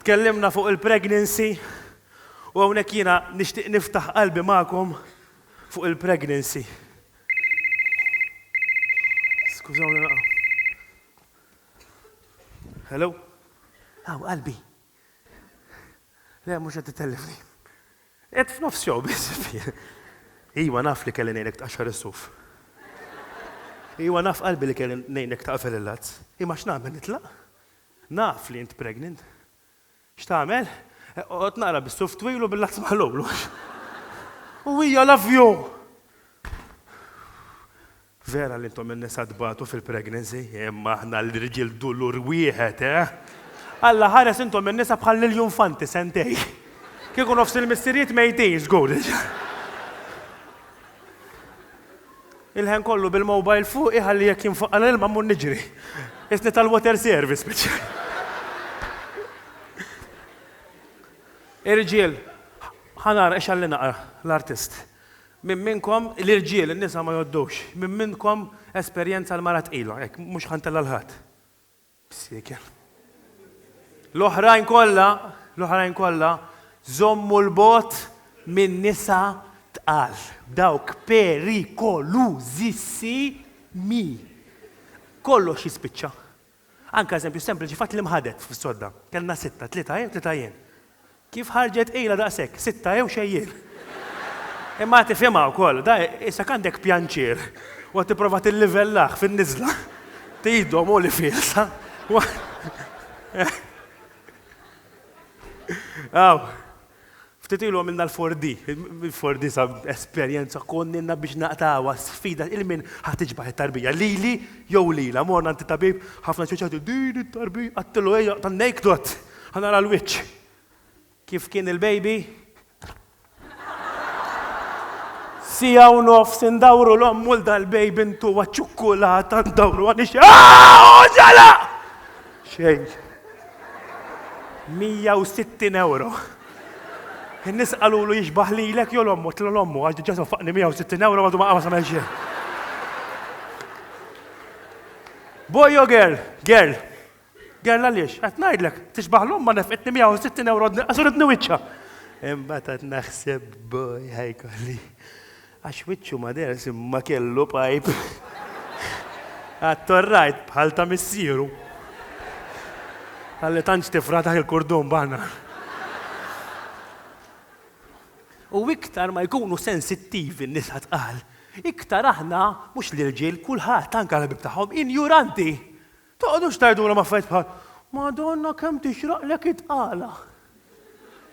Tkellimna fuq il-pregnancy u hawnhekk jiena nixtieq niftaħ qalbi magħkom fuq il-pregnancy. Skużawni naqgħu. Hello? Aw, qalbi. Le, mhux qed titellifni. Qed f'nofs jew biss. Iwa naf li kelli ngħinek tqaxxar is-suf. Iwa naf qalbi li kelli ngħinek taqfel il-lazz. Imma x'nagħmel nitlaq? Naf li int pregnant. X'tagħmel? Eqgħod naqra bis-suf twil u bil-għaks maħlul. U hija love you! Vera li intom in-nisa tbatu fil-pregnancy, imma aħna l-irġiel dulur wieħed, eh! Alla ħares intom in-nisa bħal Lilju Infanti sentejn. Kieku nofs il-missirijiet mejtin żgur. Il-ħen kollu bil-mobile fuqi ħalli jekk jinfaqal l-ilma mmur niġri. Qisni tal-water service speċjali. Irġiel, ħa nara ix għalli naqra l-artist. Minn minnkom l-irġiel, in-nisa ma jgħoddux, minn minnkom esperjenza l-mara tqila, hekk mhux ħa ntella' l-ħadd. B'siekel. L-oħrajn kollha, l-oħrajn kollha, żommu 'l bogħod minn nisa tqal, dawk perikolużissimi. Kollox jispiċċa. Anke eżempju sempliċi fatt li mħadet fis-sodda. Kellna sitta, tlieta jien, tlieta jien. Kif ħarġet ilha daqshekk? Sitta jew xejjel. Imma tifhimha wkoll, da isek għandek pjanċir u qed tipprova tillivellah fin-niżla. Tgħidhom hu li fielsa. Aw, ftit ilu għamilna l-4D, il-4D sa esperjenza konnilna biex naqtgħuha sfida il min ħa tiġbah it-tarbija, lili jew lilha. Morna għand it-tabib, ħafna ċċeċċati, din it-tarbija, għedtillu ejja, tan-Naked Hot. Ħa nara l-wiċċ. Kif kien il-baby? Siegħa u nofs indawru l-ommu l dal-baby ntuha ċ-ċukkulata ndawruha nix Oġala! Xejn. 160 ewro. In-nies qalulu jixbaħ lilek jew l-ommu, tlu l-ommu għax diġà sofaqni 160 ewro għadu ma qama samel xejn. Boy jew girl? Girl. Girl Għaliex qed ngħidlek, tixbaħ l-omm ma nefqitni 160 ewro dni qasur id-dni wiċċha! Imbagħad qed naħseb b'boy ħa jkolli. Għax wiċċu ma deherx imma kellu pajp għat-torrajt bħal ta' missieru. Talli tantx tifraħ dak il-kurdun banana. U iktar ma jkunu sensittivi n-nisa tqal, iktar aħna, mhux l-irġiel, kulħadd, anke l-ħbieb tagħhom, injuranti! Toqgħodux tgħidulhom affarijiet bħal, Madonna kemm tixraqlek it-tqala!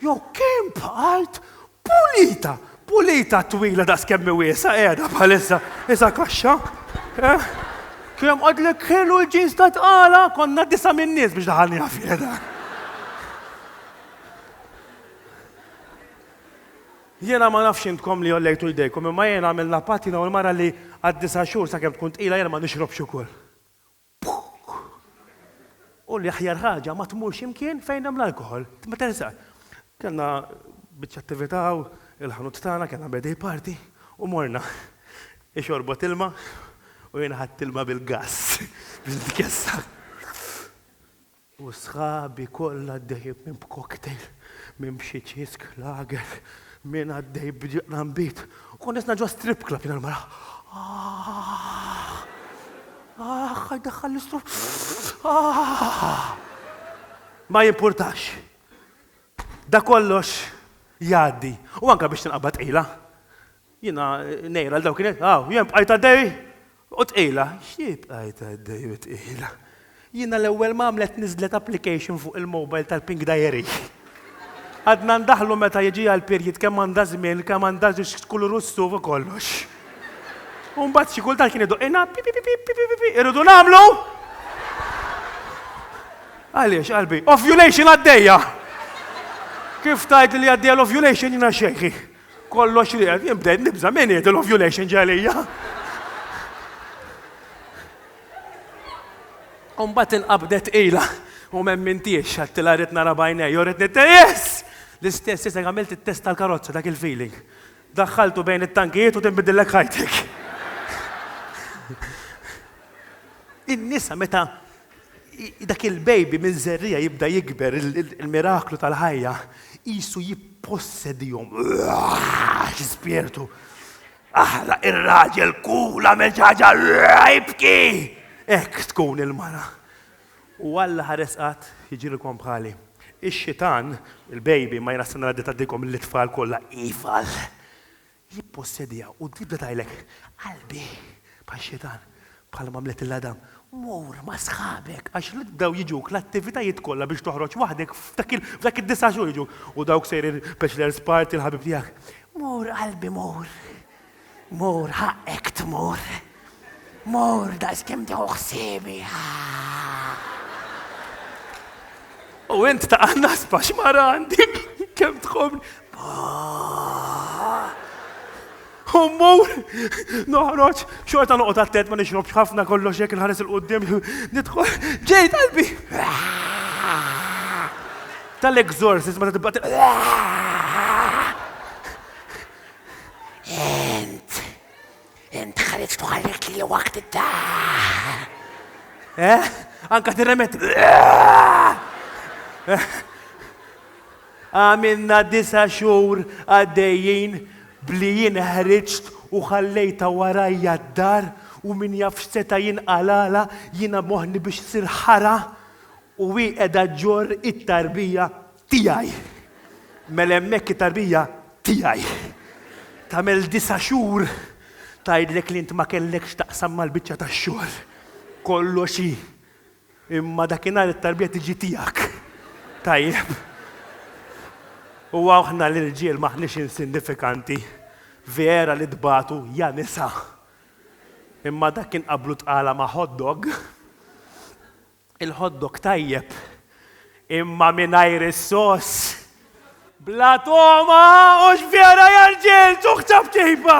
jew Kemm bqajt pulita! Pulita twila daqs kemm hi wiesgħa qiegħda bħalissa, isha kaxxa. Eh? Kemm qadlek ħelu l-ġins ta' tqala, konna disa' minn nies biex daħalniha fiha dan. Jiena ma nafx intkom li jollejtu jdejkom, imma jiena għamilna patt jiena u l-mara li għad-disa' xhur sakemm tkun tqila jiena ma nixrobx ukoll. U l-aħjar ħaġa ma tmurx imkien fejn hemm l-alkoħol. Meta nisaq. Kellna biċċa attività u l-ħanut tagħna kellna birthday party u morna. Hi xorbot ilma u jien ħadt ilma bil-gass biex nitkessa. U sħabi kollha għaddejjin minn b'cocktail, minn b'xi ċisk lager, min għaddej b'ġirrambit u kont nisma' ġo strip club jiena l-mara, Aah! Aah! Ħa jdaħħalli stru Aah! Ma jimpurtax. Da kollox jgħaddi u anke biex tinqabad tqila. Jiena ngħira l dawk kien qed, aw, jien bqajt għaddej u tqila. Xi bqajt għaddej u tqila? Jiena l-ewwel ma għamlet niżlet application fuq il-mobile tal-Pink Diary. Għadna ndaħlu meta jiġi għall-period kemm għandha żmien, kemm għandha x'kulur hu s-suf u kollox. U mbagħad xi kultant kien idoqqilna pipipipipipipipi irridu nagħmlu! Għaliex qalbi? Ovulation għaddejja! Kif tgħidli li għaddejja l-ovulation jiena xejħi. Kollox li qed jinbdel nibża' min jgħid l-ovulation ġalija. Umbat inqabdet ila u memmintiex għattila rrit nara bajnej, u rrit nitte, yes! L-istess jisek għamilt il-test tal-karozza, dak il-feeling. Daħħaltu bejn it-tankijiet u tinbidillek ħajtek. In-nisa meta Dak il-baby minn żerriegħa jibda jikber, il-miraklu tal-ħajja qisu jippossedihom. Xi spirtu! Aħla ir-raġel kul għamel xi ħaġa jibki! Hekk tkun il-mara. U Alla ħares qatt jiġrilkom bħali. Ix-xitan, il-baby, ma jnassina l-għadda ta' dikom lill-itfal kollha, ival! jippossediha u tibda tgħidlek, Qalbi, bħal Xitan, bħalma għamlet lil Adam, mur ma' sħabek, għax jibdew jiġuk l-attivitajiet kollha biex toħroġ waħdek f'dak id-disa' xhur jiġuk, u dawk sejrin bachelor's party l-ħabib tiegħek, mur qalbi mur, mur ħaqqek tmur. Mur daqskemm tieħu ħsiebi. U int ta' nasba x'mara għandi kemm tħobbni. U mmur, noħroġ, xorta noqgħod attent ma nixrobx ħafna kollox jekk inħares il-qudiem, nidħol, ġej qalbi. Tal-exorcist ma tibqa' Ent. Int ħriġt u ħallit li waqt id-daħ. Eh? Anka tirremet. Għamilna disa xhur għaddejjin bli jien ħriġt u ħallejta warajja d-dar u min jaf x'seta' jinqalala jiena moħni biex sir ħara u hi qiegħda ġor it-tarbija Tiegħi. Mela hemmhekk it-tarbija tiegħi. Tagħmel disa' xhur tgħidlek li int ma kellek x'taqsam mal-biċċa tax-xogħol. Kollox hi. Imma dakinhar it-tarbija tiġi tiegħek. Tajjeb. U aħna l-irġiel m'aħniex insinnifikanti. Vera li tbatu, ja nisa! Imma dak kien qablu tqala ma' hot dog. Il-hot dog tajjeb imma mingħajr is-sauce bla togħma! Hux vera, ja rġiel? Tuħ ta' b'kejfa!